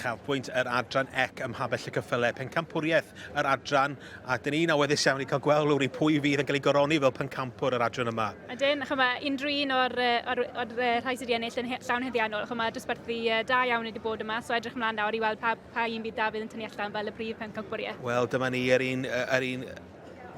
uchafbwynt yr adran ec ym Mhabell y Cyffyle, pencampwriaeth yr adran, a dyn ni'n awyddus iawn i cael gweld lwri pwy fydd yn cael ei goroni fel pencampwr yr adran yma. A dyn, chyma, unrhyw un o'r, or, or, or, rhai sydd wedi ennill yn llawn heddiannol, chyma, dosbarthu da iawn wedi bod yma, so edrych ymlaen nawr i weld pa, pa un bydd Dafydd yn tynnu allan fel y brif pencampwriaeth. Wel, dyma ni yr un, yr un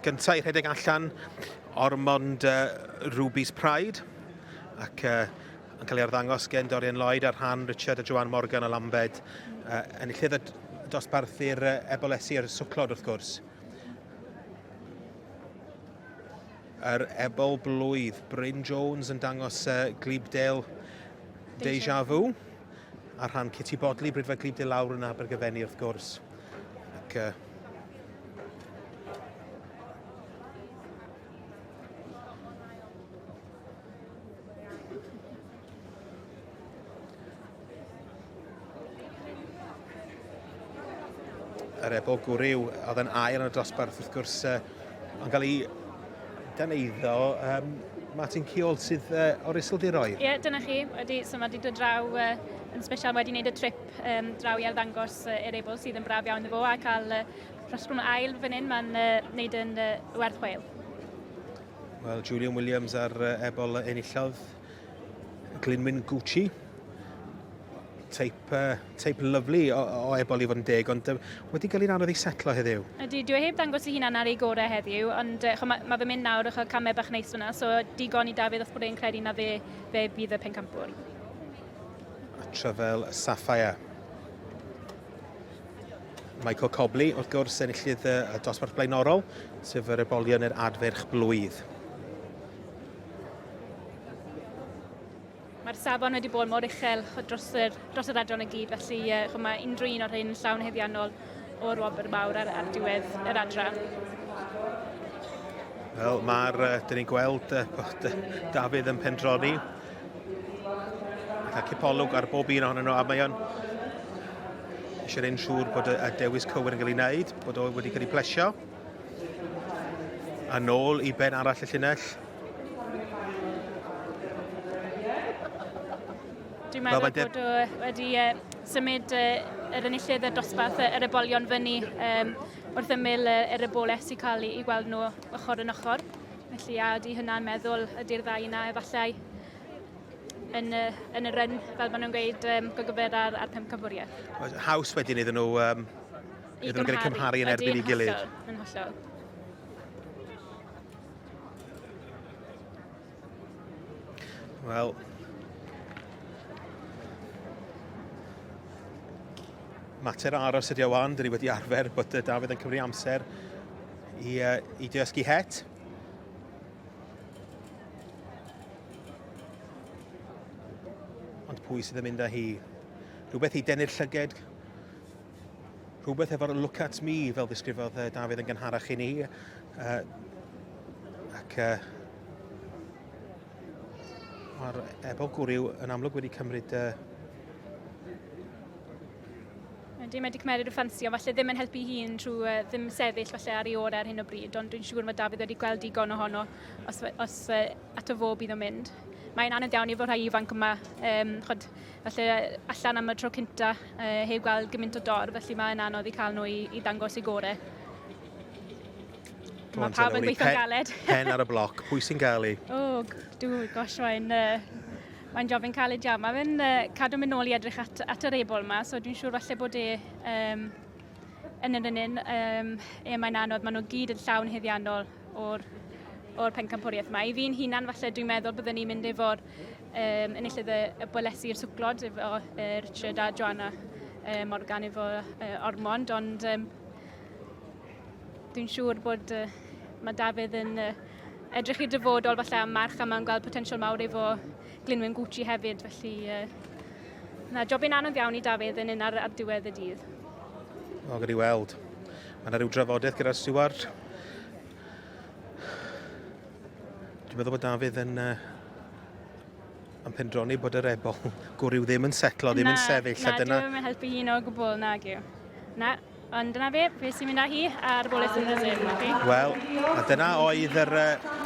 Gynta i rhedeg allan, Ormond uh, Ruby's Pride, ac uh, yn cael ei arddangos gen Dorian Lloyd a rhan Richard a Joanne Morgan a Lambed, uh, enillydd y dosbarth i'r uh, ebolesi a'r swclod wrth gwrs. Yr ebol blwydd, Bryn Jones yn dangos uh, Glebdale Deja Vu, a rhan Kitty Bodley, Brydfa Glebdale lawr yn Abergyfenni wrth gwrs. Ac, uh, yr ebol gwryw a oedd yn ail yn y dosbarth wrth gwrs uh, yn cael ei dan eiddo um, Martin Ciol sydd uh, o'r Isildiroedd. Ie, yeah, dyna chi. Wedi, so mae wedi dod draw uh, yn special wedi wneud y trip siop um, draw i arddangos uh, yr ebol sydd yn braf iawn efo a cael uh, rhosbrwn ail fan hyn, mae'n uh, wneud yn uh, werth chweil. Wel, Julian Williams ar uh, ebol enillodd Glinwyn Gucci. Teip, uh, teip lyflu o, o ebol i fod yn deg, ond uh, wedi cael ei anodd ei setlo heddiw. Ydy, dwi heb dangos i hunan ar ei gorau heddiw, ond uh, mae ma fy mynd nawr o'ch camau bach neis fyna, so digon i Dafydd os bod e'n credu na fe, fe bydd y pencampwr. A Tryfel Sapphire. Michael Cobley, wrth gwrs, enillydd y dosbarth blaenorol, sef yr ebolion yr adferch blwydd. Mae'r safon wedi bod mor uchel dros yr, dros yr adran y gyd, felly uh, mae unrhyw un o'r hyn yn llawn heddiannol o'r wobr mawr ar, ar diwedd yr adran. Wel, mae'r, uh, dyn ni'n gweld uh, bod uh, Dafydd yn pendroni. Mae'n cael cipolwg ar bob un ohonyn nhw, a mae o'n eisiau ein siŵr bod y, y dewis cywir yn cael ei wneud, bod o wedi cael ei plesio. A nôl i ben arall y llinell. Dwi'n meddwl Robert bod o wedi uh, symud uh, yr enillydd y dosbarth uh, yr ebolion fyny um, wrth ymyl uh, yr eboles i cael ei gweld nhw ochr yn ochr. Felly a ydy hynna'n meddwl ydy'r ddau yna efallai yn y, yn y run, fel maen nhw'n gweud, um, gyfer ar, ar pum cyfwriaeth. Haws wedyn iddyn nhw, um, iddyn nhw gael cymharu yn erbyn i gilydd. Yn hollol. Wel, mater aros ydi o wan, dyn ni wedi arfer bod Dafydd yn cymryd amser I, uh, i dysgu het. Ond pwy sydd yn mynd â hi? Rhywbeth i denu'r llyged, rhywbeth efo'r look at me fel ddisgrifodd uh, Dafydd yn gynharach i ni. Uh, ac uh, mae'r ebol gwryw yn amlwg wedi cymryd uh, Ydy, mae wedi cymeriad o ffansio, falle ddim yn helpu hun trwy uh, ddim sefyll falle ar ei orau ar hyn o bryd, ond dwi'n siŵr mae David wedi gweld digon ohono os, os uh, ato fo bydd o'n mynd. Mae'n anodd iawn i fod rhai ifanc yma, um, chod, falle allan am y tro cynta, uh, heb gweld gymaint o dorf, felly mae'n anodd i cael nhw i, i ddangos i gorau. Mae pawb yn gweithio'n galed. Pen ar y bloc, pwy sy'n gael ei? O, oh, dwi'n gosh, mae'n... Uh, Mae'n job yn caled iawn. Mae fe'n uh, cadw mynd nôl i edrych at, at yr ebol yma, so dwi'n siŵr falle bod e um, yn yr un um, e mae'n anodd. Maen nhw gyd yn llawn heddiannol o'r, or pencampwriaeth yma. I fi'n hunan, falle dwi'n meddwl byddwn ni'n mynd efo'r um, enillydd y, y bwelesi i'r swclod, efo uh, Richard a Joanna uh, Morgan efo uh, Ormond, ond um, dwi'n siŵr bod uh, mae Dafydd yn uh, Edrych i'r dyfodol falle am merch a mae'n gweld potensial mawr efo Glinwyn Gucci hefyd, felly uh, na, jobyn anodd iawn i Dafydd yn un ar, ar diwedd y dydd. O, gyda'i weld. Mae yna rhyw drafodaeth gyda'r Steward. Dwi'n meddwl bod Dafydd yn uh, yn pendroni bod yr ebol gwrw ddim yn setlo, ddim yn sefyll. Na, na, ddim yn helpu un o gwbl, na gyw. Na, Ond dyna fe, fe sy'n mynd â hi ar bol Yswyn Rysyn, na chi? Wel, a dyna oedd yr... Uh,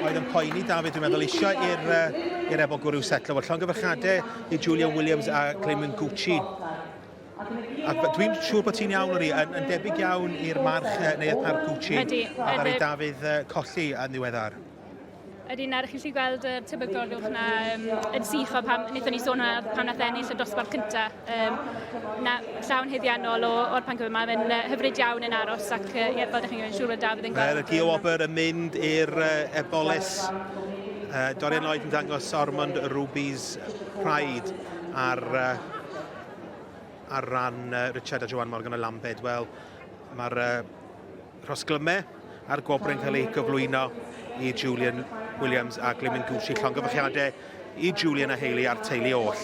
oedd yn poeni David, dwi'n meddwl, eisiau i'r uh, Ebo Gwrw setlo. Wel, llongyfarchadau i Julia Williams a Clayman Gucci. A dwi'n siŵr bod ti'n iawn o'n i, yn, yn debyg iawn i'r march uh, neu y parc Gucci. Ydy, a ddaru Dafydd uh, colli yn ddiweddar. Yr un ar, chi'n lli gweld y tebygol uwch na um, yn sych o pam, wnaethon ni sôn hwnna pan nath ennill y dosbarth cyntaf. Um, na, llawn heddiannol o'r pan cyfyd, mae'n uh, hyfryd iawn yn aros ac uh, ie, fel ydych chi'n gwneud, siŵr bod Dafydd yn gweld. Mae'r Gio Wobr yn mynd i'r uh, ebolis. Uh, Dorian Lloyd yn dangos Ormond Ruby's Pride ar, uh, ar ran uh, Richard a Joan Morgan o Lambed. Wel, mae'r uh, Rhosglyme a'r gwobrau'n cael eu gyflwyno i Julian Williams a Glyn Mingucci. Llongyfarchiadau i Julian a Hayley a'r teulu oll.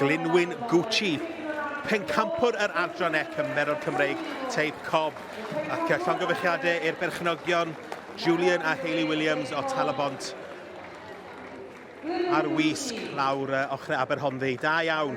Glynwyn Gucci, pencampwr yr adran e cymerodd Cymreig teip cob ac llongyfechiadau i'r berchnogion Julian a Hayley Williams o Talabont. Ar wisg lawr uh, ochrau Aberhonddu. Da iawn.